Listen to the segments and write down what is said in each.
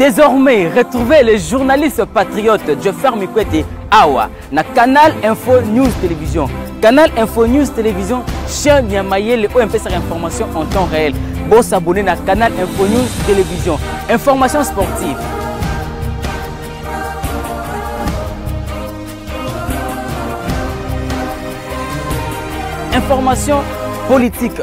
Désormais, retrouvez le journaliste patriote Joffer Mikwete Awa na Canal Info News Télévision. Canal Info News Télévision, chaîne ya mayele oyo mpesaka information en temps réel. Bon s'abonner na Canal Info News Télévision. Information sportive, information politique.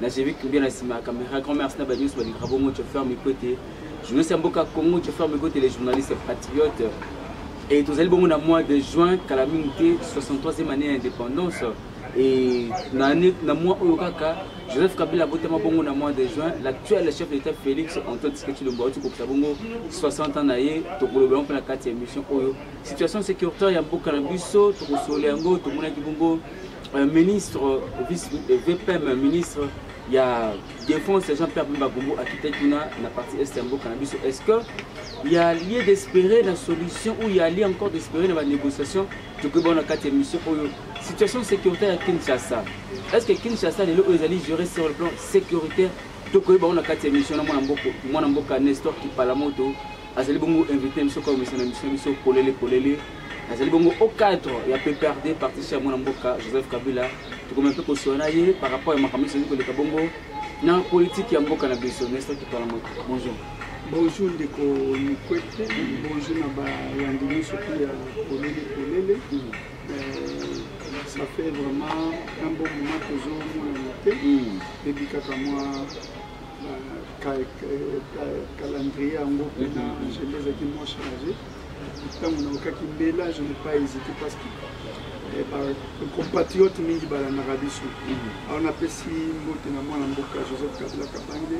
na jevi kibia na nsima ya camera grand merci na bato nyonso balingaka bongo joffer mikwete journaliste ya mboka congo joffer mikwete le journaliste patriote e tozali bongo na mois de juin kala mingi te 63e année ya indépendance e na mois oyo kaka joseph kabila abotama bongo na mois de juin l'actuel chef de l'état félix antoine tshisekedi auti kokisa bongo 60 ans na ye tokolobela mpe na kati ya émission oyo situation sécuritaire ya mboka na biso tokosolola yango tomonaki bongo Euh, ministre vice euh, vpm ministre ya défense jean pierre bemba gombo akitaki kuna na partie est ya mboka na biso est ce que ya lie d'espérer na solution ou ya lie encore d'espérer na banégociation tokoki baona kati ya mission oyo situation sécuritaire ya kinshasa est ce que kinshasa lelo oyo ezali gérer sur le plan sécuritaire tokoki baona kati ya mission na mwana mboka nestor kipalamoto azali bongo invité biso kwa emission na biso biso polele polele azali bongo au cadre ya pprd partition ya mwana mboka joseph kabila tokomi mpe kosola na ye par rapport ya makambo ezali koleka bongo na politike ya mboka na biso nesta kipala moto bonjour bonjour ndeko mikwete bonjour na bayandi nyonso mpe ya polele polele mm. euh, ça fait vraiment un bon moment tozomonana te mm. ebikaka mwa calendrier yango mpena agenda ezalaki moins chargé ntango naokaki mbela je ne pas hésité parce que eh, compatriote mingi balandaka biso mhm. alors napesi mbote na mwana mboka joseph kabila kabange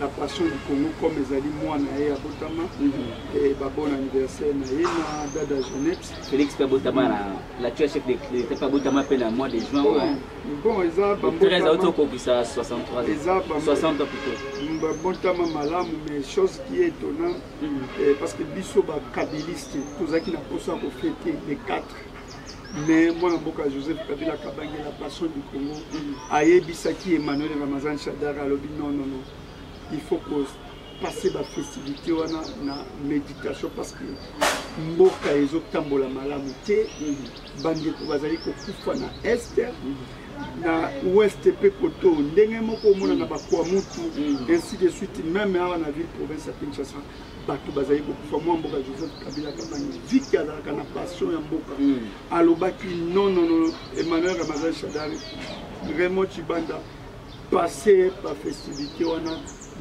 la passion du congo comme ezali mwana ye abotama mhm. babon anniversaire na ye na dada jeannette félix mpe abotama na la chef de l'état mpe abotama mpe na mois de juin bon eza bambotama auti okokisa 63 eza 60 ans plutôt babotama malamu mais chose qui est étonnant mm. eh, parce que biso bakabiliste tozalaki na mposa ya kofete le 4 mais mwana mboka joseph kabila kabange la passion du congo mm. ayebisaki emmanuel ramazan shadar alobi non non non il faut passer ba festivité wana na méditation parce que mboka ezotambola malamu te mhm. bandeko bazali kokufa na est mhm. na ouest mpe koto ndenge moko omonana mhm. bakwa mutu ainsi de suite meme awa na ville province ya kinshasa bato bazali kokufa mwa mboka joseph kabila kabangi viki azalaka na passion ya mboka alobaki nonono emmanuel ramazan shadari raymond chibanda passe ba festivité wana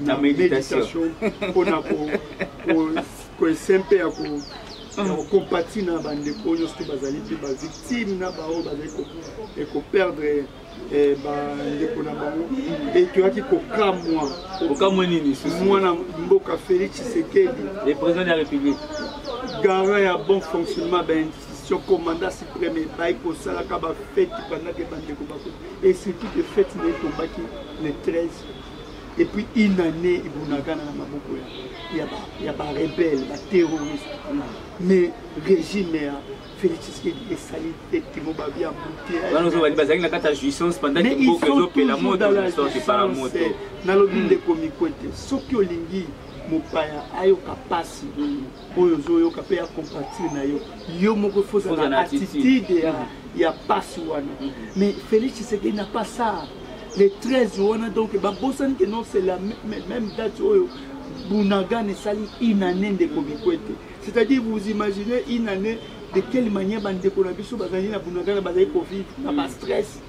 na méditation mpona koesempe ya ko compati na bandeko oyo nyonso te bazali mpe bavictime na baoyo bazali koperdre eh, bandeko na bango e toyaki kokamwa kokamwa nini mwana mboka félix tshisekedi le président de la république garant ya bon fonctionnement ya bainstitution commandant supreme epai kosalaka bafeti bandaki bandeko bako et surtout que fête na ye etombaki le 13 et puis une année ebunagana na maboko ya, ya barebelle baterroriste mais régime ya félix tshisekedi esali tete mobabi ya butebazali bazalaki na kati ya jouissance pendant que mboka ezopela moto epala moto nalobi hmm. ndeko mikwete soki olingi mopaya ayoka mpasi oyo ozoyoka mpe ya compatriote na yo yo moko faut ozala na attitude ya, ya pasi wana mhm. mais félix tshisekedi na pas ça le 13 wana donc babosani ke non c'est la même date oyo bunagan esali une année ndeko bikwete c'est-à-dire vous imaginez une année de quelle manière bandeko na biso bazali na bunagana bazali kovivre na bastress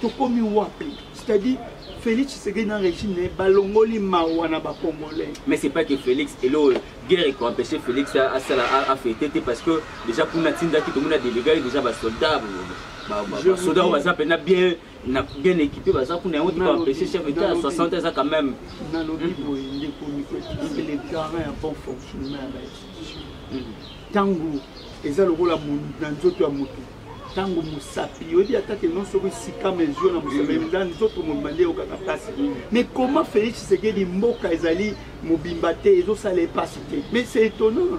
tokomi wapi c'est-à-dire félix tshisekedi na régime na ye balongoli mawa na bacongolais mais c'est pas que félix elo guerre ekoempêche félix asala afete te parce que déjà kuna atindaki tomona delega ye déjà basoldat basoda oyo baza mpena bien na bien équipé baza kuna yango tokoempêche chef d'état ya 60 eza quand même nalobi mhm. boye ndeko mikotise le garant ya bon fonctionnement ya bainstitution ntango eza lokola na nzoto ya motu ntango mosapi oyebi ata ke non soki sika mesure na mosapi mm. eza nzoto mobimba nde eyokaka mpasi mm. mais comment félix tshisekedi mboka ezali mobimba te ezosala epasi te mais c'est étonnant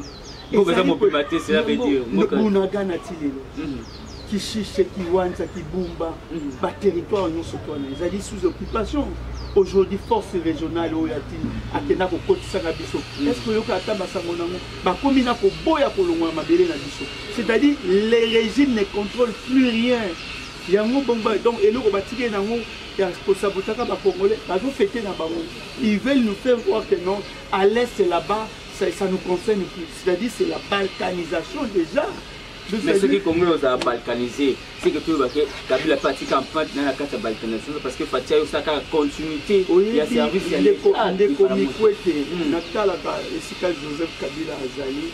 bunagana ti lelo mm. kishishe kiwanza kibumba baterritoire nyonso twana ezali sous occupation aujourd'hui force régionale oyo ati akenda kokotisaka biso est ce que oyoka ata basango nango bakomi na koboya kolongola mabele na biso c'est-à-dire le régime ne contrôle plus rien yango bongo donc eloko batiki ye nango ya kosabotaka bacongolais bazofete na bango ils veulent nous faire voir que non à l'est là-bas ça, ça nous concerne plus c'est-à-dire c'est la balkanisation déjà mais soki congo ozala balkanisé c'est que toyeba ke kabila mpe atika empreinte na na kati ya balkanisation parce que fatia yo osala kaka continuité ya service ya ndeko mikwete natalaka esika joseph kabila azali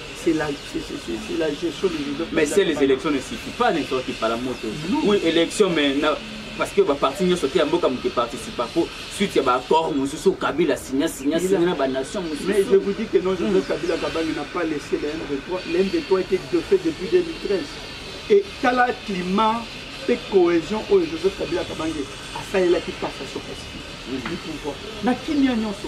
c'est la, c'est la gestion des élections. Mais c'est les élections ne suffit pas n'importe qui par la moto. Oui, élection, mais na, parce que baparti nyonso te ya mboka moke participa mpo suite ya baaccord mosusu kabila signa signa signa na banation mosusu mais je vous dis que non joseph kabila kabange n'a pas laissé le m23 le m23 était defait depuis 2013 et tala climat mpe cohésion oyo joseph kabila kabange asalelaki passation pacifique du pouvoir na kimia nyonso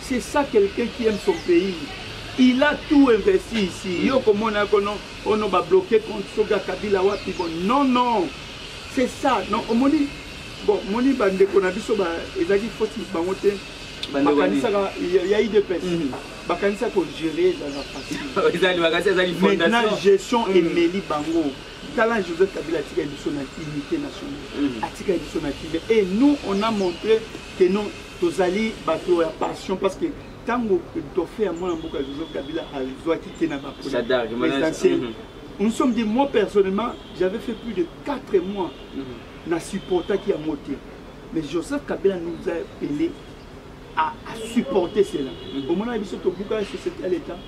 C'est ça quelqu'un qui aime son pays. Il a tout investi ici. Mm. Yo komona yako non, oh non, ba bloquer compte soga Kabila wapi bon. Non non. C'est ça. Non, omoni bon, moni ba ndeko na biso ba ezaki faute bango te. Bakanisaka il y a eu des pètes. Mm. Bakanisaka ko gérer ezala facile. Ezali bakasi ezali fondation. Maintenant gestion mm. emeli bango. tala joseph kabila atikaki biso na unité nationale mm. atikaki biso na kile et nous on a montré que non tozali bato ya passion parce que ntango dauphin ya mwana mboka joseph kabila azwaki te na baprésidentiel mhm. nous sommes dit moi personnellement j'avais fait plus de 4 mois mhm. na supportaki yango te mais joseph kabila nous a appelé à, à supporter cela mhm. omonaka biso tobukaka société ya l'état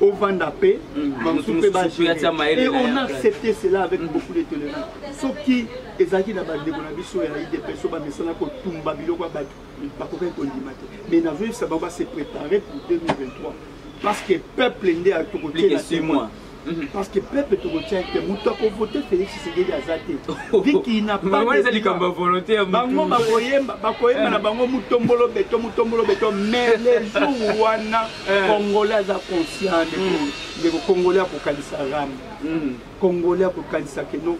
ovanda mpe bamosusu mpe baee on a accepté cela avec beaucoup de tolérance soki ezalaki na bandeko na biso ya idps oyo bamesana kotumba biloko ya bato bakokaki kondima te mais nazoyebisa bango base préparer pour 2023 parce que peuple nde tokotiela témoin parce que peuple tokotia te moto akovote félix tshisekedi aza te viki na bango bakoyemba na bango motombolo beto motombolo beto mais le jour wana Eh. congolais aza conscient ndeko mm. ndeko congolais akokanisa rame mm. congolais akokanisa keno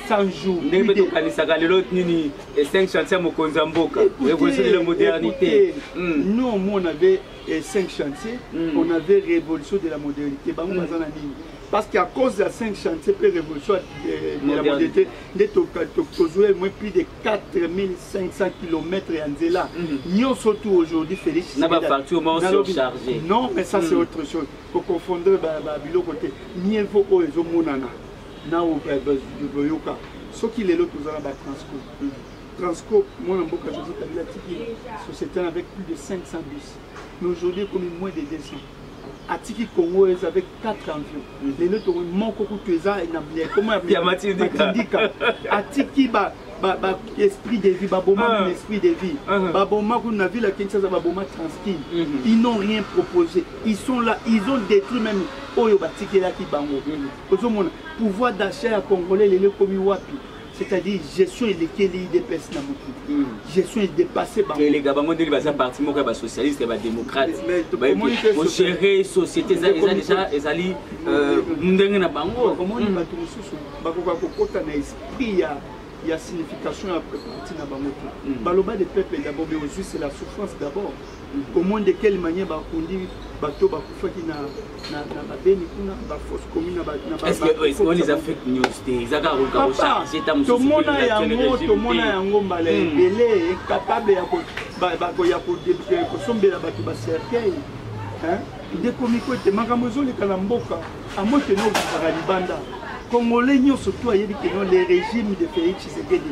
100 jours ndenge mpe tokanisaka lelo nini e5 chantier mokonzi ya mboka révolution de la modernité mm. non moi on avait e5 chantier on avait révolution de la modernité bango baza na nini parce qu'à cause ya 5 chantier mpe révolution de la modernité nde tozwa moins plus de 4500 km ya nzela mhm. nyonso tu aujourd'hui félix na bafacture moko surcharge non mais ça c'est mhm. autre chose koconfondre babiloko te mieux vaut oyo ezomonana na boyoka soki lelo toza na batransco mhm. transco mwana mboka josé kabila tiki société avec plus de 500 bus mais aujourd'hui ekomi moins de 200 atiki congo eza avec 4 avions mhm. lelo to moko kutu eza na ekoma ya matindika atiki ba ba, ba esprit de vie baboma ah. esprit de vie ah. baboma kuna na ville ya kinshasa baboma tranquille mm -hmm. ils n'ont rien proposé ils sont là ils ont détruit même oyo batikelaki bango mm -hmm. ozomona pouvoir d'achat ya congolais lelo ekomi wapi c'est-à-dire gestion elekeli idps na motu hmm. gestion edepasse bangoelega bango ndenge baza parti moko ya basocialiste ya badémocrate ogere société ezali euh, ndenge na bango omoni hmm. bato mosusu bakoka kokota na esprit ya ya signification ya parti na bango te hmm. baloba de peuple d'abord mais ozwisi la souffrance d'abord comment de quelle manière bakundi bato bakufaki na babeni kuna bafosse commune tomona yango tomona yango mbala hmm. ebele incapable ya kosombela bato bacercueil ndeko miko ete makambo ezoleka na mboka amokeno okokaka libanda congolais nyonso to ayebi keno le régime de félix tshisekedi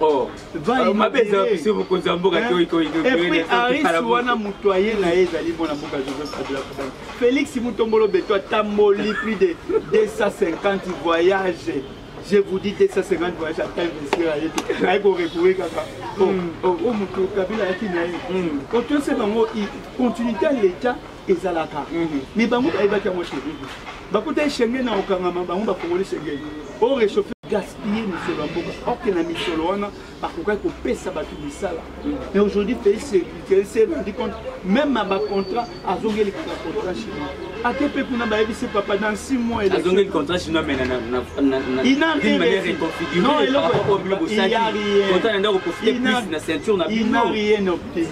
Oh. Ah, mabe eza biso mokonzi ya mboka toikoiaris wana moto aye na ye ezali mwana mboka joseph kabila kabani félix mutombolo beto atamboli plus de 250 voyage je vous dis 250 voyage ata investir aye te aye korecoure kaka o moto kabila ayaki na ye otosi bango continuité ya l'état ezalaka me bango bayebaki yango te bakutaki shenge na kokangama bango bakongoli shenge o réchauffe gaspille misolo ya mboka orke na misolo wana bakokaki kopesa bato misala mais aujourd'hui félix se rendi compte même na bacontrat azongeli kaka contrat chinois ate mpe kuna bayebisi papa dans 6 mois azongeli contrat chinois mais inarienobteni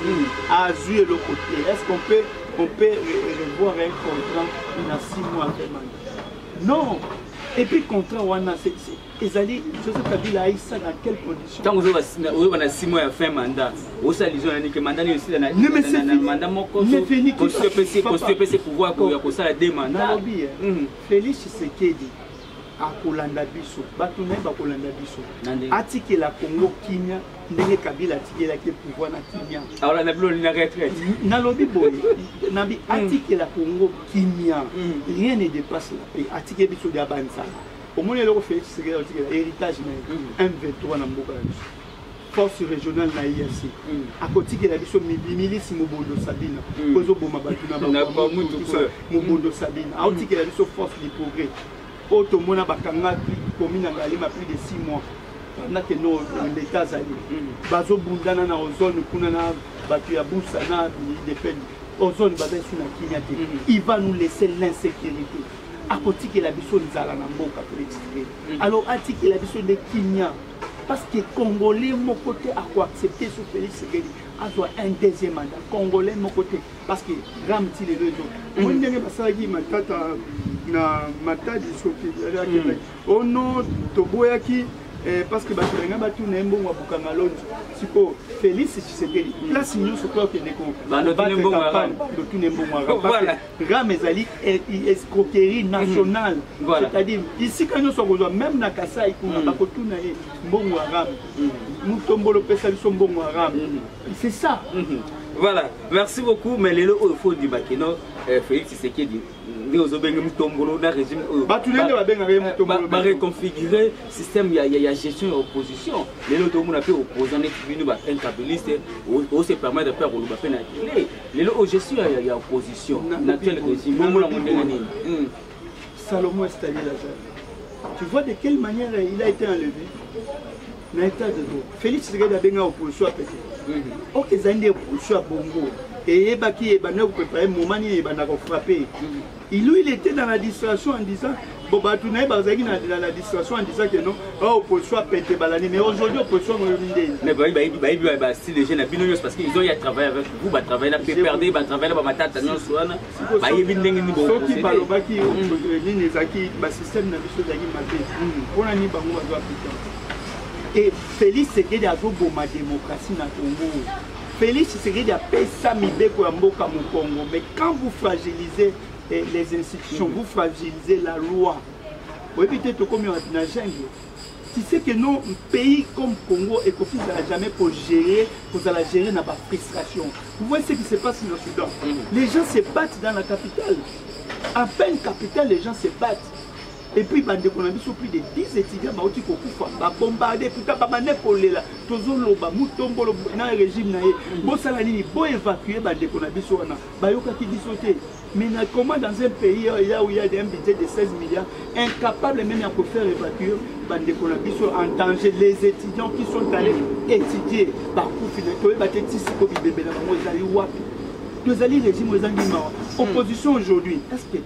azwi eloko te est ce qu'on peut on peut revoir un contrat na six mois vraiment non et puis contrat wana ezali joseph kabila aisa na quelle condition ntango ozoba na six mois ya fin mandat osala lizo na nike mandat nini osila na mandat moko constitution epesi pouvoir ya kosala deux mandat nalobi felix tshisekedi akolanda biso bato na ye bakolanda biso atikela kongo kimia ndenge kabila atikelaki pouvoir na kimia akolanda bino na retraite nalobi boye nabi hmm. atikela kongo kimia hmm. rien ne dépasse la paix atike biso dia banzala omoni eloko félix sekela otikela héritage na ye mv3 hmm. na mboka ya biso force régionale na IAC mm. akotikela biso milice mobondo sabina mm. kozoboma bato na bamutu mobondo mm. sabina aotikela biso force du progrès oyo tomona bakangaki komi na ngalema plus de 6 mois na ke no leta azali bazobundana na ozone kuna na bato ya busa na depeni ozone baza esu na kimia te il va nous laisser l'insécurité akotikela biso nzala na mboka toexplike alors atikela biso nde kimia parce que congolais moko te akoaccepte so félix sekedi azwa un deuxième mandat congolais moko te parce que drame ti lelo ezo omoni ndenge basalaki matata na matadi soki akendaki ono toboyaki Eh, parce que bato balinga batuna ye mbongo ya bukanga lonji sikoyo félix tshisekedi place nyonso mpo akende kobandotuna mbongo ya ram ezali e, e, escroquerie mhm. nationale mm -hmm. c'est-à-dire isika nyonso akozwa même na kasai kuna mm -hmm. bakotuna ye mbongo ya ram mm -hmm. mutombolo pesa biso mbongo ya ram mm -hmm. c'est ça mm -hmm. voilà merci beaucoup mais lelo oyo fo ondima kino eh, félix tshisekedi nde ozobenge mutombolo na régime oyo bato nde babengaka ye mutombolo eh, bareconfigure système ya, ya, ya gestion ya opposition lelo tokomona mpe opposant neti bino ba incabiliste ose permettre mpe akoloba mpe na tele lelo oyo gestion ya, ya opposition na actuel régime bongo nango ndenge nini hmm. salomon estali lazare tu vois de quelle manière il a été enlevé na état de droit félix tshisekedi abenga opposition apete hmm. ok ezali nde opposition ya bongo eyebaki ebandaki koprepare moma nini ebandaka kofrape hmm. Ilu il était dans la distraction en disant bon bato na ye bazalaki na la distraction en disant que non ba opposition apete balani mais aujourd'hui opposition moyomi ndeni mais bayi bayebi bayebi ba bastyle déjà na bino nyonso parce que ils ont ya travailler avec vous ba travailler na PPRD ba travailler na ba matata nyonso wana bayebi ndenge nini bo soki balobaki mm. nini ezalaki ba système na biso ezalaki mabe mm. mpo na nini bango bazo appliquer et Félix Tshisekedi azoboma démocratie na Congo Felix Tshisekedi apesa mibeko ya mboka mokongo mais quand vous fragilisez eh, les institutions vous fragilisez la loi oyebi te tokomi na jungle tu sais que non pays comme congo ekoki zala jamais kogérer kozala gérer na bafrustration vous voyez ce qui se passe na soudan mm. les gens se battent dans la capitale à peine capitale les gens se battent et puis bandeko na biso plus de 10 étudiants bauti kokufa babombarde tuta babande kolela tozoloba mutombolo na régime na ye mm. bosala nini boévacue bandeko na biso wana bayokaki biso te mais na comment dans un pays ya uya un budget de 16 milliards incapable même ya kofaire évacuer bandeko na biso en danger les étudiants qui sont allés étudier bakufi na toyeba te tisiko bibembe na bango ezali wapi tozali régime ezangi mawa mm. opposition aujourd'hui est ce que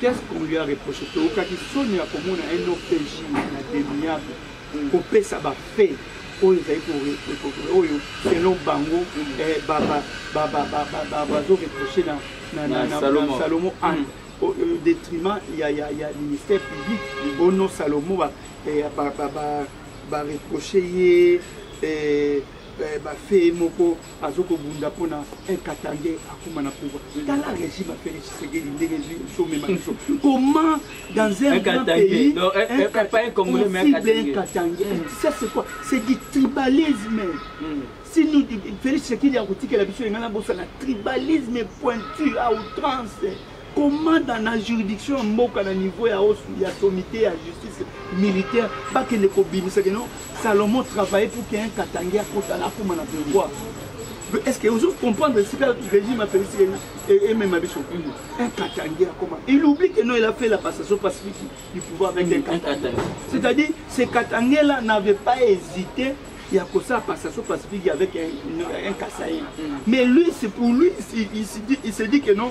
Qu'est-ce qu'on lui a reproché toyokaki soni ya komona un OPJ na demiable mm. kopesa bafe oyo ezali oyo selon bango mm. eh, bazo reproche na salomo ane mm. au détriment ya ministère public ono salomo bareproche eh, ye eh, bafe moko azo kobunda mpona un katangais akoma na pouvoir tala régime ya félix tshisekedi ndenge ezwi somema biso comment dans un grand pays un katangais ça c'est quoi c'est du tribalisme hmm. si nous félix tshisekedi akotikela biso engana bosana tribalisme pointu à outrance komanda na juridiction ya mboka na niveau ya osu ya sommité ya justice militaire bakende kobimisaka no salomon travaille pour que un katange akota na akoma na pouvoir est ce que ozo comprendre esika régime ya félix emema biso un katange akoma il oublie que non il a fait la passation pacifique du pouvoir avec un katange c'est à dire ce katange là n'avait pas hésité ya kosala passation pacifique avec un, un, un kasaï mm. mais lui c'est pour lui il, il, il, il se dit que non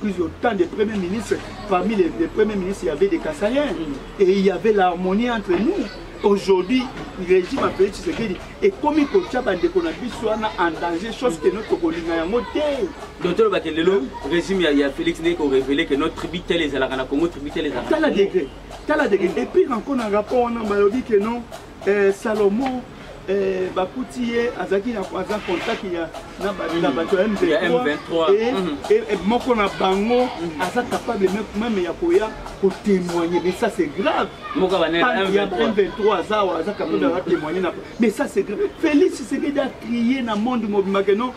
plus autant de premiers ministres parmi les, les premiers ministres il y avait des Kassayens et il y avait l'harmonie entre nous aujourd'hui régime apeli tshisekedi ekomi kotya bandeko na biso wana en danger chose que no tokolinga yango te donc tolobake lelo régime ya félix nde korevele que notre tribu tele ezalaka na congo tribu tele ezalaka tala degre tala degre et puis encore na rapport wana balobi que non eh, salomo eh, bakuti ye azalaki aza contact ya na mm. bato ya m23 eh, mm. eh, eh, moko na bango mm. aza capable meme ya koya kotémoigne mais ça c'est grave ya m23 aza aza capable ya témoigne mais ça c'est grave félix sekedi a crie na monde mobimake non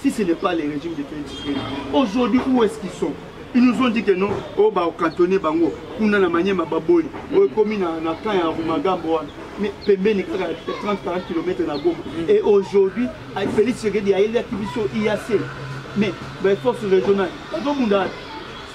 Si ce n'est pas le régime de Félix Tshisekedi, aujourd'hui où est-ce qu'ils sont Ils nous ont dit que non, oh bah au cantonné bango, kuna na manyema baboli, oh komi na na camp ya Rumagambo wana. Mais pembeni kaka 30 40 km na Goma. Et aujourd'hui, avec Félix Tshisekedi ayeli ya kibiso IAC. Mais les forces régionales, donc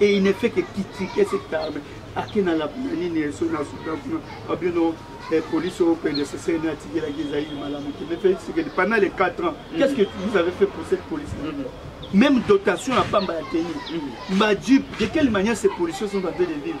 et il ne fait que critiquer cette arme ake na lapina nini eso na suka kuna abino eh, police oyo pende sese ne atikelaki ezali malamu te mais felix sekedi pendant les 4 ans mm. qu'est-ce que vous avez fait pour cette police mm. même dotation ya pamba ya teni mm. bajupe de quelle manière ces policiers sont en train de vivre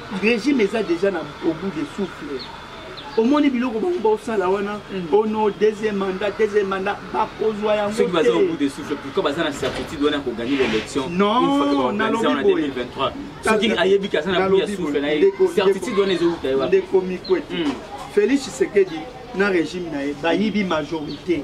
regime eza deja na au bout de souffle omoni biloko bango baosala wana mm. ono oh deuxième mandat deuxième mandat bakozwa yango soki baza au bout de souffle pourquoi baza na certitude wana koganye l'élection non nalobi boye soki ayebi ke aza na bout ya souffle na ye certitude wana ezowuta ye wapi ndeko mikwete mm. félix tshisekedi na régime na ye bayibi majorité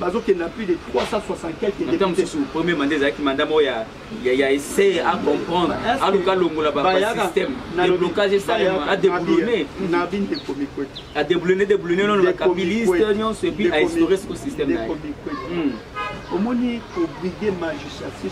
bazokende na plus de 360 quelque députés premier mandat ezalaki mandat moko ya ya essayer à comprendre aluka longola ba système de blocage esalema à déboulonner na bin de comique à déboulonner déboulonner non la kabiliste nyonso et puis à instaurer ce système là omoni ko brider magistrature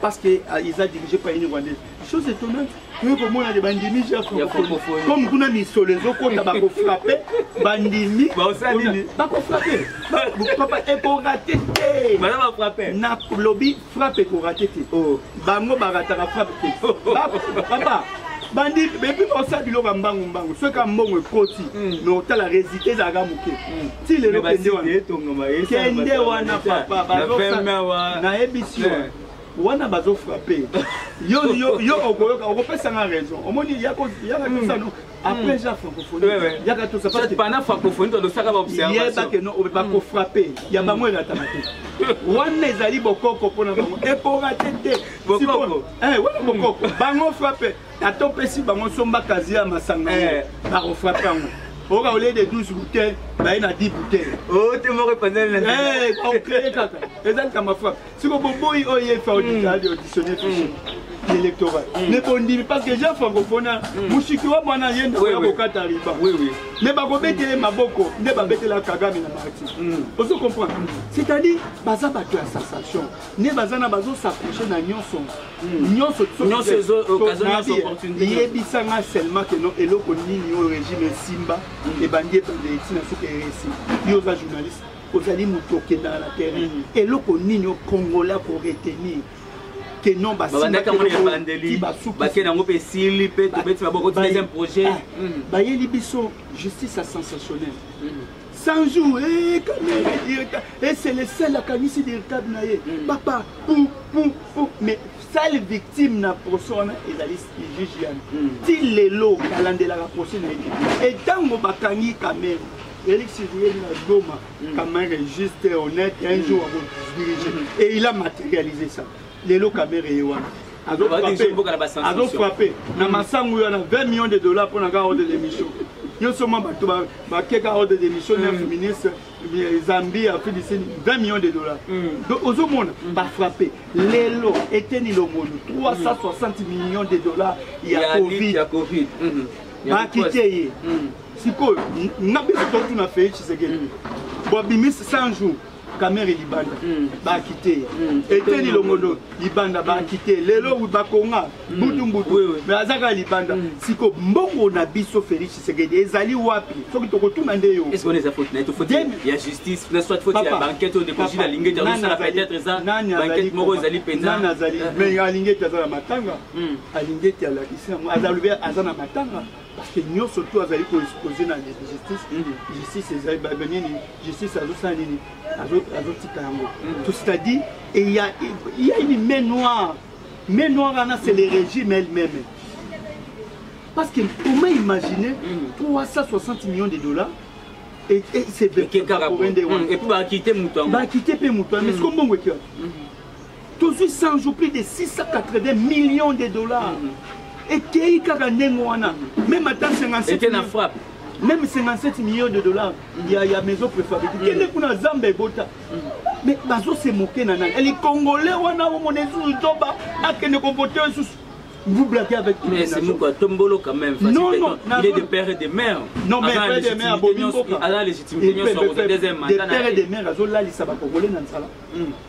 parce que euh, ils a dirigé par une rwandaise chose étonnante toye komona de bandimi ja francophonie comme kuna misolo ezokota bakofrappe bandimi bakofrappe papa ekorate te na lobi frappe ekorate te oh. bango barataka frappe te oh. papa bandi epi baosala biloko ya mbangu mbangu soki ya mbongo ekoti hmm. me otala resultat ezalaka moke hmm. ti lelo kende wana papa nayebisi yo wana bazo frappe yo yo yo okoyoka okopesa nga raison omoni yaka tosano hmm. après ja francophonie yaka tosa parce que pendant francophonie tolosaka ba observation yeba que non obepa ko frapper ya bango elatama te wana ezali bokoko mpona bango ekorate te bokoko eh wana bokoko bango frappe ata opesi bango somba kazi ya masanga eh. bakofrape yango oyoka olie de 12 bouteille baye na 10 bouteille oh, te moko epanzanilakokeye eh, kaka eza likambo frape siko boboyi oyo ye fa auditionne mm. fiche mm. électoral mm. mais bondimi parce que jean francophone mosiki wa mwana ye ndeko ya kokata riba nde bakobetele maboko nde babetela kagame na marti ozo comprendre c'est-à-dire baza bato ya sensation nde baza na bazo s'approche na nyonso hmm. nyonso yebisa nga seulement ke no eloko nini oyo régime esimba hmm. ebandi ebanda etina soki eresi yo oza journaliste ozali moto okendaka na terrain hmm. eloko nini o congolais akoretenir que non basibakende yango mpe esili mpe tobeti maboko deuxième projet ah, bayeli biso justice ya sensationnel 100 jours eh, kamere eh, c'est le seul akanisi directable na ye mm. papa pou pou pou mais sale victime na procès wana ezali juge yani mm. ti lelo alandelaka procès na ye e ntango bakangi kamere Eric Sivouye na Goma, mm. Kamere juste honnête, un mm. jour avant de se diriger. Mm. Et il a matérialisé ça. lelo kamere ye wana azo frappe na masangu wana 20 millions de dollars mpo na ka ordre d'émission nyonso mwa bato bakeka ordre d'émission 9 mm. ministre eh, zambie afrique du sud 20 millions de dollars mm. donc ozomona mm. bafrappe lelo eteni longono 360 millions de dollars ya covid bakite ye sikoyo nga biso totuna fei tshisekedi bobimisi 100 jours kamere libanda mm. bakite mm. eteni longondo libanda bakite lelo bakonga mm. butumbutu me aza kaka libanda siko mbongo na biso félix tshisekedi ezali wapi soki tokotuna nde yo alingeti aza na matanga alingeti alakisi yango azalobi aza na matanga parce que nyonso tu azali koexpose na justice mhm. justice ezali nini justice azosala nini azotika yango mhm. to c'est-à-dire il y a une main noire main noire wana c'est le régime elle-même parce que comment imaginer 360 mhm. millions de dollars et, et c'est et puis bakite mutu bakite pe mutu mais ce qu'on mongo tozwi 100 jours plus de 680 millions de dollars ekei kaka ndenge wana meme ata 57 na frappe même 57 millions de dollars ya, ya maison préfabriquée mm. kende kuna zamba ebota mm. mais bazo se moke na nani eli congolais wana omona esusu zoba akende kovote esusu vous blaguez avec tout mais c'est moko tombolo quand même non non il est de père et de mère non mais père et de mère bobi mboka à la légitimité nyonso deuxième mandat de père et de mère azo lalisa ba congolais na nsala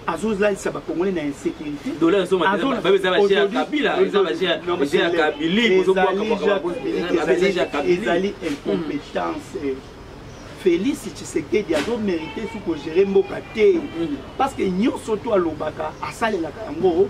azolalisa bakongole na insécurité ezali incompétence eh. félix tshisekedi azomérite su kogere mboka te mm. parce que nyonso to alobaka asalelaka yango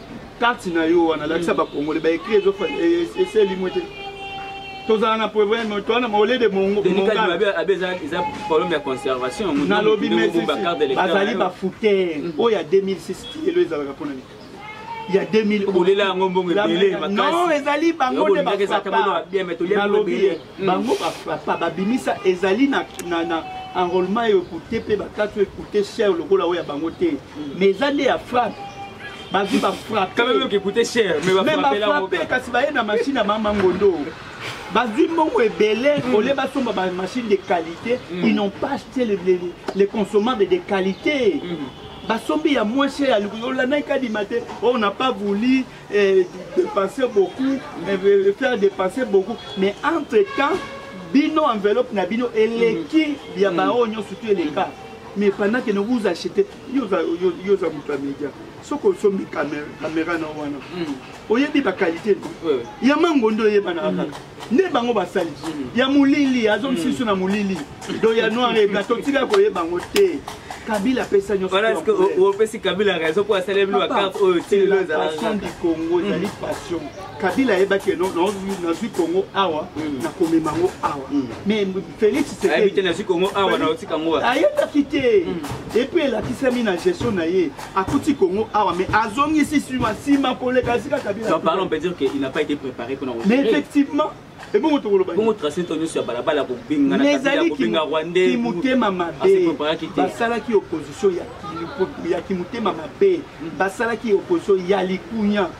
carte na yo wana lakisa bakongole baekri eseli mwe te tozala na problème toana maole de mongonganalobi bazali bafouter mm. oyo ya 2006 elo ezalaka mpona nini ya 2000 olela yango mbongo ebele makasi non ezali bango nde bafapa nalobi mm. bango ba frappa ba bimisa ezali na na na enrôlement yo coûter pe ba carte yo coûter cher lokola oya bango te mm. mais eza nde ya frappe ba vie ba frappe quand même que coûter cher mais ba frappe là mais ba frappe kasi ba ye na machine ya mama ngondo bazwi mbongo ebele mm. olie basomba bamachine de qualité mm. ils n'ont pas acheté les, les, les consommables de qualité mm. basombi ya moins cher olandaki kadima te oyo oh, na pas voulu et dépenser beaucoup, mais euh, faire dépenser beaucoup. Mais entre-temps, bino enveloppe na bino eleki ya mm. baoyo nyonso surtout eleka mais pendant que nous vous achetez yo oza moto ya média soki osombi caméra na wana mm. oyebi baqualité no ya mango nde oyebanaka kaka mm. nde bango basali ya molili azo misusu na molili do ya noir ebla totika koyeba yango te kabila apesa nyonsoopesi kabila raison mpo asali bino bakarte oyo tililopassion du congo ezali mm. passion kabila ayebaki eno nazwi congo awa mm. nakomema yango awa mm. mais félix ayebaki te epuis elakisami na gestion na ye akuti Congo awa mais azongisi sima sima koleka sika kabila donc pardon on peut dire que il n'a pas été préparé pour mais effectivement et bon to koloba bon tracé to nyoso ya balabala ko binga na kabila ko binga rwandais ki mutema mabe basala ki opposition ya ki ya ki mutema mabe basala ki opposition ya likunya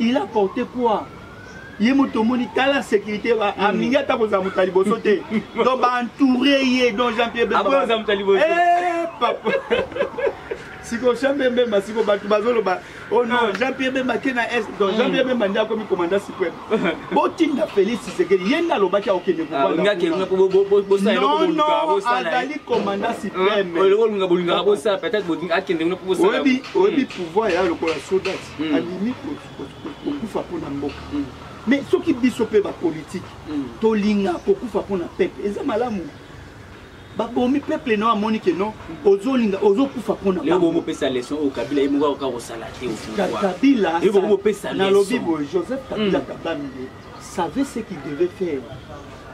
il a porté quoi ye moto omoni tala sécurité amingi ata kozala moto ya liboso te donc baentoure ye donc jean pierre eh, papa siko jean pierre bemba siko bato bazoloba oh non ah. jean pierre bemba ke na est donc jean pierre bemba nde akomi commanda suprême botinda félix tshisekedi ye nde alobaki akokende azali commanda suprêmeoyebi pouvoir ya lokola soda mm. alimi kokufa mpo na mboka mm. mais soki biso mpe bapolitike mm. tolinga kokufa mpo na peple eza malamu babomi peuple no amoni ke no ozolinga ozokufa mpona bopesa leson oyo kabila ye moko akoka kosala te kabilanalobi boye joseph kabila mm. kabamile savait ce qu'il devait faire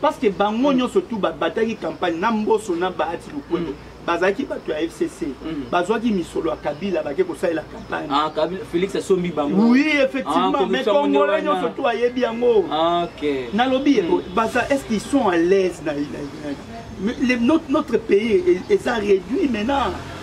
parce que bango nyonso tu babataki campagne na mboso na bahati lukwebo mm. bazalaki bato ya fcc mm. bazwaki misolo ya kabila bake kosalela campagne ah, félix asombi bango oui effectivement ah, mais congolais nyonso tu ayebi yango ah, nalobi mm. baza est ce qu'ils sont à l'aise na notre pays eza réduit maintenant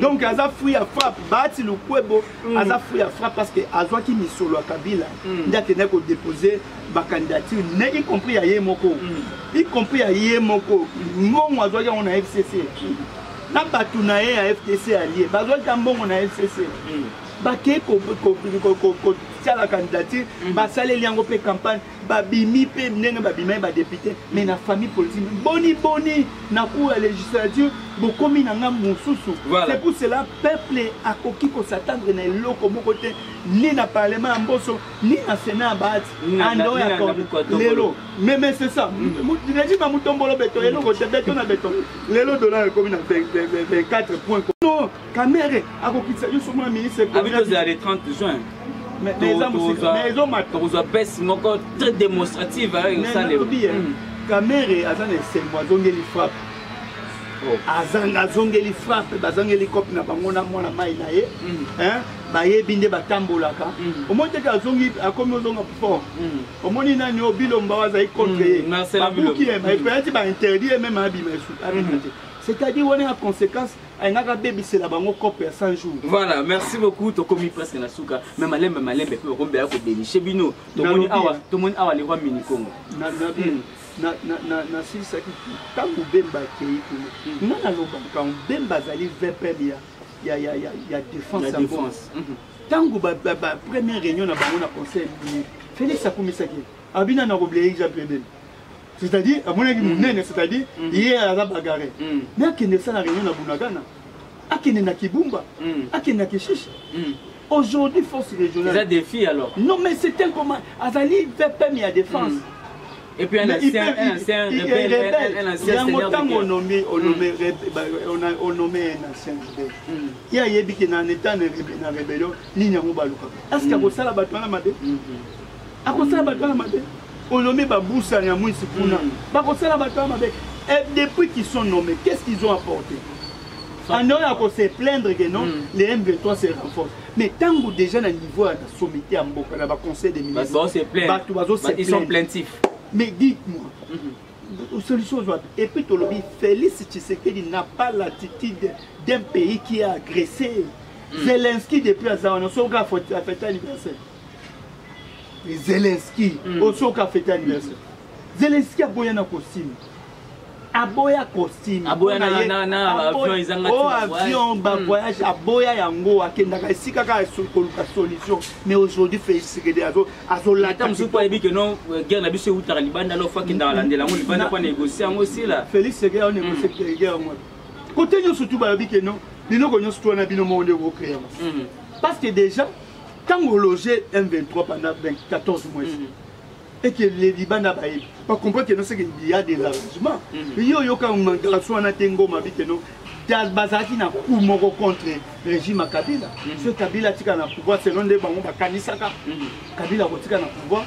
donc aza fruit ya frappe baati lukwebo mm. aza fruit ya frappe parce que azwaki misolo ya kabila mm. nde akendaki kodepose bacandidature ne y compris ya ye moko mm. y compris ya ye moko mbongo azwaki yango na fcc na bato na ye ya fdc alie bazwaki ya mbongo na fcc bakei kotiala candidature basaleli yango mpe campagne babimi mpe ndenge babimaki badepute mais na famille politique boni boni na cour ya législature bokomi na ngambo mosusu c'est pour cela peuple akoki kosatandre na eloko moko te ni na parlement ya mboso ni na sénat ya baati ando ya lelo meme c'est ça régime ya mutombolo beton eloko te beton na beton lelo dollar ekomi na 24 point Kamere akokitisa yo somo na ministre abi tozela le 30 juin tokozwa bese moko très démonstrative ayo esalema kamere aza na esengo azongeli frappe oh. azanga azongeli frappe bazangeli cope na bango na mwana mai na ye mm. bayebi nde batambolaka mm. omoni teke azongi akomi ozonga fort mm. omoni nani oyo bilomba oyo azali contre ye babuki ye epeyati bainterdit ye meme abima esu abima te c'est-à-dire wana ya conséquence ayingaka abebisela bango cope ya 100 jours voilà merci beaucoup tokomi presque na suka me malembe malembe mpe bakombe ya kodenishe bino tomoni awa tomoni awa le roi minikongo nasilisaki hmm. ntango bemba akei kuna hmm. nga nalobaka bemba azali vpm ya défense ntango hmm. première réunion na bango na conseil felix akumisaki abina na kobleya exemple ebele c'est-à-dire amonaki monene c'est-à-dire ye aza bagare mais akende esala réunion na bunagana akende na kibumba akende na kishishe aujourd'hui force régionale eza défi alors non mais c'est tel comme azali vpm ya défense mm. Et puis un ancien, un ancien rebelle, un ancien seigneur de guerre. Onommé, onommé, onommé un ancien rebelle. Il y a yebi qui n'a n'état na rébellion, ni n'a pas baluka. Est-ce qu'il y a ça là bas toi là ma akosala bato wana mabe olombi babusani ya mwisi kuna hmm. bakosala bato wana mabe eh, depuis qu'ils sont nommés qu'est ce qu'ils ont apporté andao ya ko se plaindre que non hmm. les m23 se renforce mais ntango déjà na niveau ya na sommité ya mboka na baconseil des ministresbato bazo se mais dites moi hmm. solution ozwa et puis tolobi félix tshisekedi n'a pas l'attitude d'un pays qui a agressé mm. zelensky depuis aza wana soki afeta anniversaire zelenski mm. osoki afete anniversaire zelenski aboya na kosima aboya costume aboya na na na avion ezanga oh avion hmm. ba voyage aboya yango akendaka esika ka koluka solution mais aujourd'hui Félix Tshisekedi azo azo lata musu po yebi que non euh, guerre na biso utaka libanda lo faki ndala landela ngo libanda pa négocier yango sila Félix Tshisekedi a négocier hmm. que guerre ngo côté nyoso tout ba yebi que non biloko nyoso to na bino mo nde ko créer hmm. parce que déjà ntango ologe m23 pendant 14 mois mm. eke leliba na bayebi bacomprend keno seke ya des arrangements mm. yo oyoka mangarasi wana te ngoma bi keno bazalaki na coup moko contre régime ya kabila mm. so kabila atika na pouvoir selon nde bango bakanisaka kabila akotika na pouvoir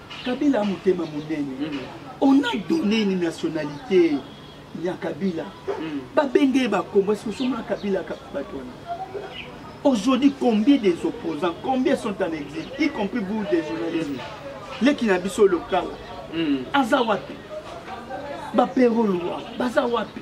kabila motema monene on a donné une nationalité ya kabila hmm. babenge ye bakombo esi osomona kabila kaka bato wana aujourd'hui combien des opposants combien sont en exil y compris vous des journalisme hmm. leki na biso lokala hmm. aza wapi bapero lwa baza wapi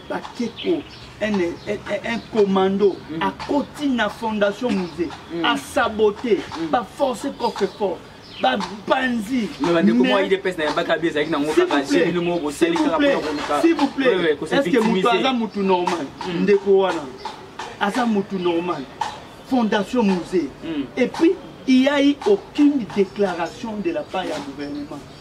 bakeko un, un, un commando mm. akoti na fondation musée mm. asabote mm. baforce coffre fort bapanzi silvouplaitestceque moto aza motu normal mm. ndeko wana aza motu normal fondation musée mm. et puis il y a eu aucune déclaration de la part ya gouvernement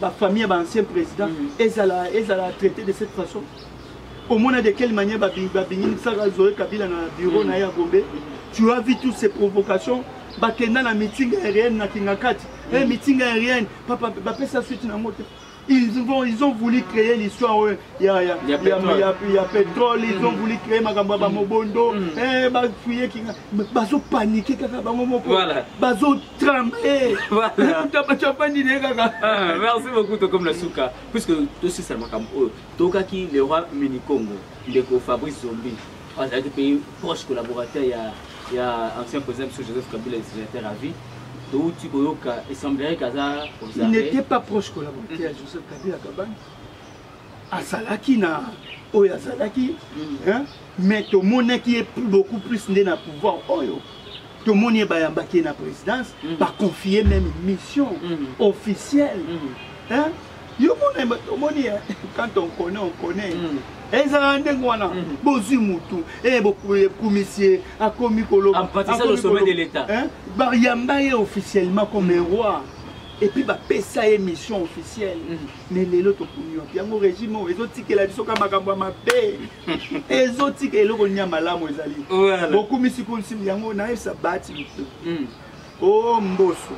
bafamille ya baancien président mm. ezala traité de cette façon omona de quelle manière babinginisaka zoe kabila na bureau mm. na ye ya gombe mm. tu as vu toutes ces provocations bakenda na meeting aérienne na kingakati eh, meeting aérienne bapesa suite na yango te Ils, vont, ils ont voulu créer l'histoire euh, il y a, y a, y a, pétrole. Y a, y a pétrole, ils mm. ont voulu créer makambo ya bamobondo mm. mm. eh, bafuye kinga bazopanike kaka bango moko bazotremble bato afandi naye kaka ah, merci beaucoup tokomi na suka puisque tosisa makambo oyo tokaki le roi minikongo ndeko fabrice zombi azalaki mpe proche collaborateur ya ya ancien président biso joseph kabila legislateur à vie touti koyoka essemblerique aza il n'était pas proche collaborateur ya joseph kabila kabani azalaki na oyo azalaki mm. mais tomonaki ye beaucoup plus nde na pouvoir oyo oh, tomoni ye bayambaki ye na présidence mm. baconfie même mission mm. officielle mm. yo mona omoni eh, quand on connaît on connaît mm. ezalaka ndenge wana mm. bozwi motu eh, bokumisi ye akomi kolobabayamba ye officiellement comme mm. roi epuis bapesa ye mission officielle mais lelo tokomi wapi yango régime oyo ezotikela biso ka makambo ya mabe ezotika eloko nia malamu ezali bokumisi kumisi yango nayebisa bati o oh, mboso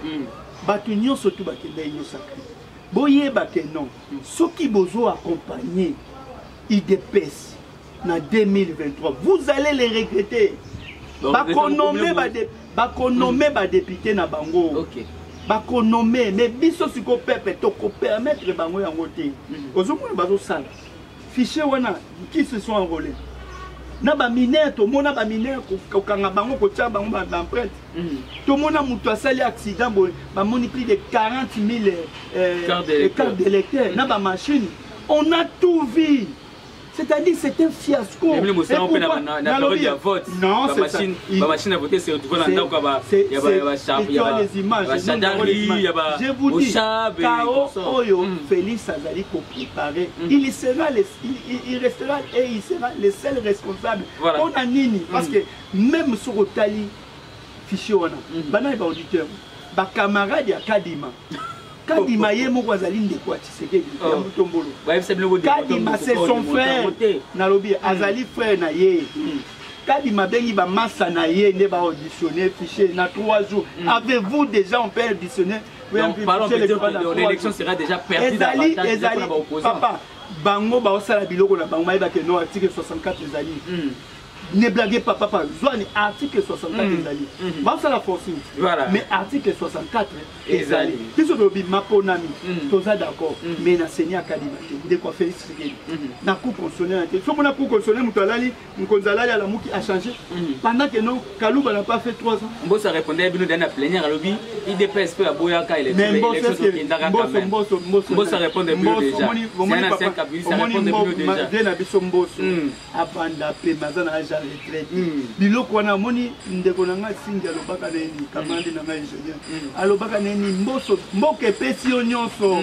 bato nyonso tu bakendai nyosaka boyeba ke non soki bozo accompagner idps na 2023 vous allez les regretter bakonome bade bakonome mm. badepute na bango okay. bakonome me biso sikoyo pepe tokopermettre bango yango te mm. ozomona bazosala Fichier wana qui se sont enrôlés na baminere tomona baminere kokanga bango kotya bango baempreinte mm. tomona moto asali accident boye bamoni plus de 40 000 euh, carte d'électeur na bamachine on a tout vu c'est-à-dire c'est un fiasco na période ya vote bamachine ya vote se retrouve na ndako ya bagendarmerie ya baoshab oyo mm. félix azali il paraît mm -hmm. il sera le, il, il, il restera et il sera le seul responsable voilà. mpo na nini mm -hmm. parce que même soki otali fichier wana mm -hmm. banani baauditeur bacamarade ya kadima kadima ye moko azali ndeko ya tshisekedi ya oh. mutombolo kadima c'est son frère nalobi mm. azali frère na ye mm. kadima abengi bamasa na ye nde baauditionne fichier na 3 jours mm. avez-vous déjà on peut auditionne Donc, parlons peut-être que l'élection sera déjà perdue davantage pour les opposants. Papa, bango baosala biloko na bango bayeba ke no article 64 ezali hmm. ne blague pas papa zwani article 64 hmm. ezali hmm. basala forcing mais article 64 ezali biso tolobi maponami toza d'accord mais na seni akadima te ndeko felix tshisekedi na cour constitutionnel te soki na cour constitutionnel moto alali Mokonzi alali alamuki a changer mhm. pendant que non Kaluba n'a pas fait 3 ans. Mboso répondait bino dans la plénière alobi IDPS pe aboyaka élection. Mais Mboso est Mboso Mboso Mboso Mboso répondait bino déjà. C'est un ancien kabiniste répondait bino déjà. Bien na biso Mboso. Mhm. Abanda pe mazana âge à retraite. Mhm. Biloko wana moni ndeko na nga singa lobaka na ni kamande na nga ingénieur. Alobaka na ni Mboso mboke pesi yo nyonso.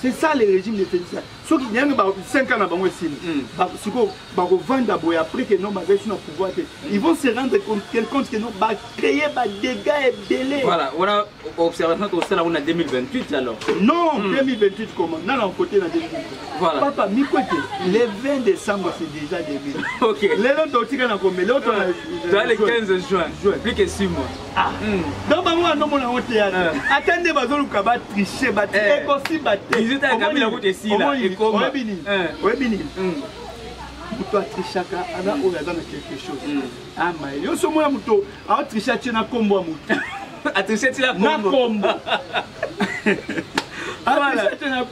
c'est ça le régime de félix soki yange ba 5 ans na bango esili hmm. sikoyo bakovanda boye après que non bazali so na pouvoir te ils vont se rendre compte que non bacréer badégats ebele voilà wana observation tosala kuna 2028 alors non 2028 hmm. comment nana okote na 2028 voilà papa mikwete le 20 décembre c'est déjà 2000 ok lelo totika na komele oyo tona le 15 juin plus que 6 mois Ah. Hmm. donc bango bandomona yango teyana eh. ata nde bazoluka batriche bati eh. ekosimba teoyebi nini moto atrichaka ana hmm. oyo aza na quelque chose hmm. ama ah, yo so omona moto aotriche atie na nkombo ya moto atriche ti na nkombo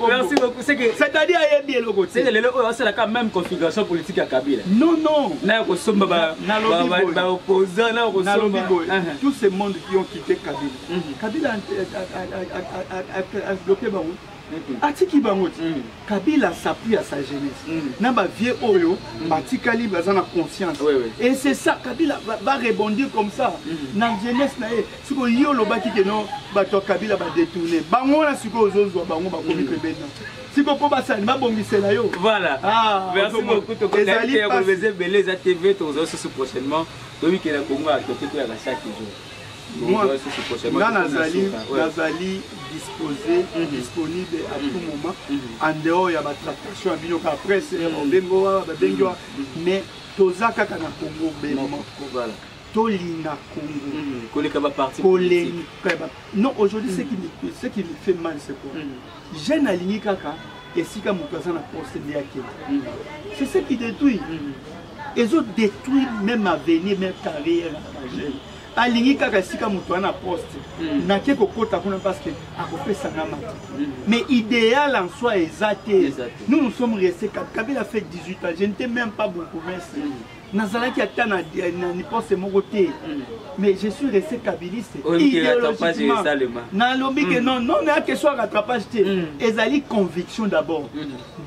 Merci beaucoup. C'est que c'est-à-dire ayebi eloko te. C'est que lelo oyo asalaka même configuration politique ya Kabila. Non non. Na ko somba ba ba opposants na ko somba. Tous ces mondes qui ont quitté Kabila. Mhm. Kabila a bloqué bango. Mhm. atiki bango ti mhm. kabila asapui ya sa jeunesse na bavieux oyo batikali baza na conscience et c'est ça kabila va rebondir comme ça na jeunesse na ye siko ye olobaki ke no bato ya kabila badetourne bango wana sikoyo ozozwa bango bakomi pembeni na siko mpo basani babongisela yo voilà ah, merci beaucoup tokozali ya koloba eza ebele eza tv tokozala susu prochainement toyikela kongo ya toke toyaka chaque jour nga nazali nazali disposé mhm. disponible à tout mhm. moment mhm. en dehors ya batractation ya bino kaka presse obengo babengi wa mais toza kaka na kongo bemoko tolinga congo mm, koleka baparti koleka non aujourd'hui ce qui me ce qui me fait mal c'est quoi mm. jeune alingi kaka esika moto aza na poste nde akende mm. c'est ce qui détruit ezo détruire même avenir même carrière ya jeune alingi kaka esika moto wana poste mm. nake kokota kuna parce que akopesa nga mata mm. mais idéal en soi eza te nous nous sommes resté kabila fait 18 ans je ne t'ai même pas beaucoup merci mm. nazalaki ata na niposte moko te mm. mais je suis resté kabiliste idéologiquement nalobi ke mm. non non na question ya rattrapage te mm. ezali conviction d'abord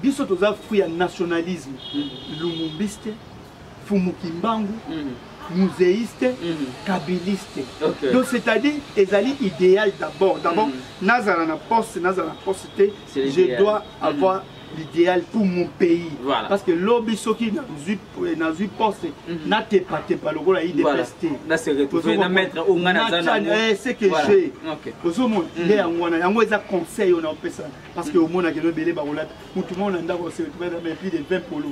biso toza fruit ya nationalisme lumumbiste fumukimbangu museiste kabiliste donc c'est-à-dire ezali idéal d'abord d'abord nazala na poste nazala na poste te je dois avoir l'idéal pour mon pays voilà. parce que lobi soki nazwi nazwi poste mm -hmm. natepatepa lokola idps te ce que je ozomona nde yango wana yango eza conseil oyo naopesa parce que omonaka elobele bakolata motu moko na ndako oseepi de 20 polo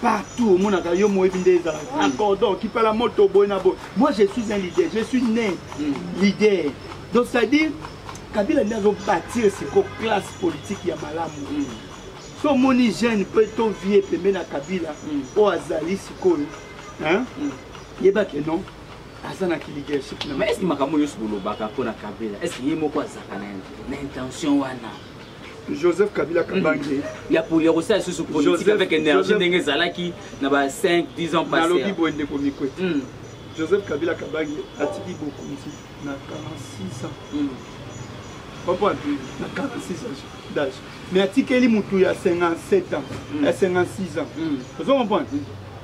partout omonaka yo moyebi nde ezala na cordon kipala moto boye na boye moi je suis un leader je suis né leader donc c'est à dire kabila nde azobatir siko classe politique ya malamu mm. so omoni jeune mpe to vie pembe na kabila mm. oyo azali sikoyo mm. yeba ke non aza na kiligership na mais eske makambo nyonso bolobaka mpo na kabila eske ye moko azalaka na intention wana joseph kabila kabange ya poli ya kosala lisusu politique avec énergie ndenge ezalaki na ba 5 10 ans passé nalobi boye ndeko mikwete hmm. joseph kabila kabange atiki bokonzi na 46 ans hmm. comprendre na 46 ans d'âge mais atikeli motu ya 57 ans hmm. ya 56 ans ozo comprendre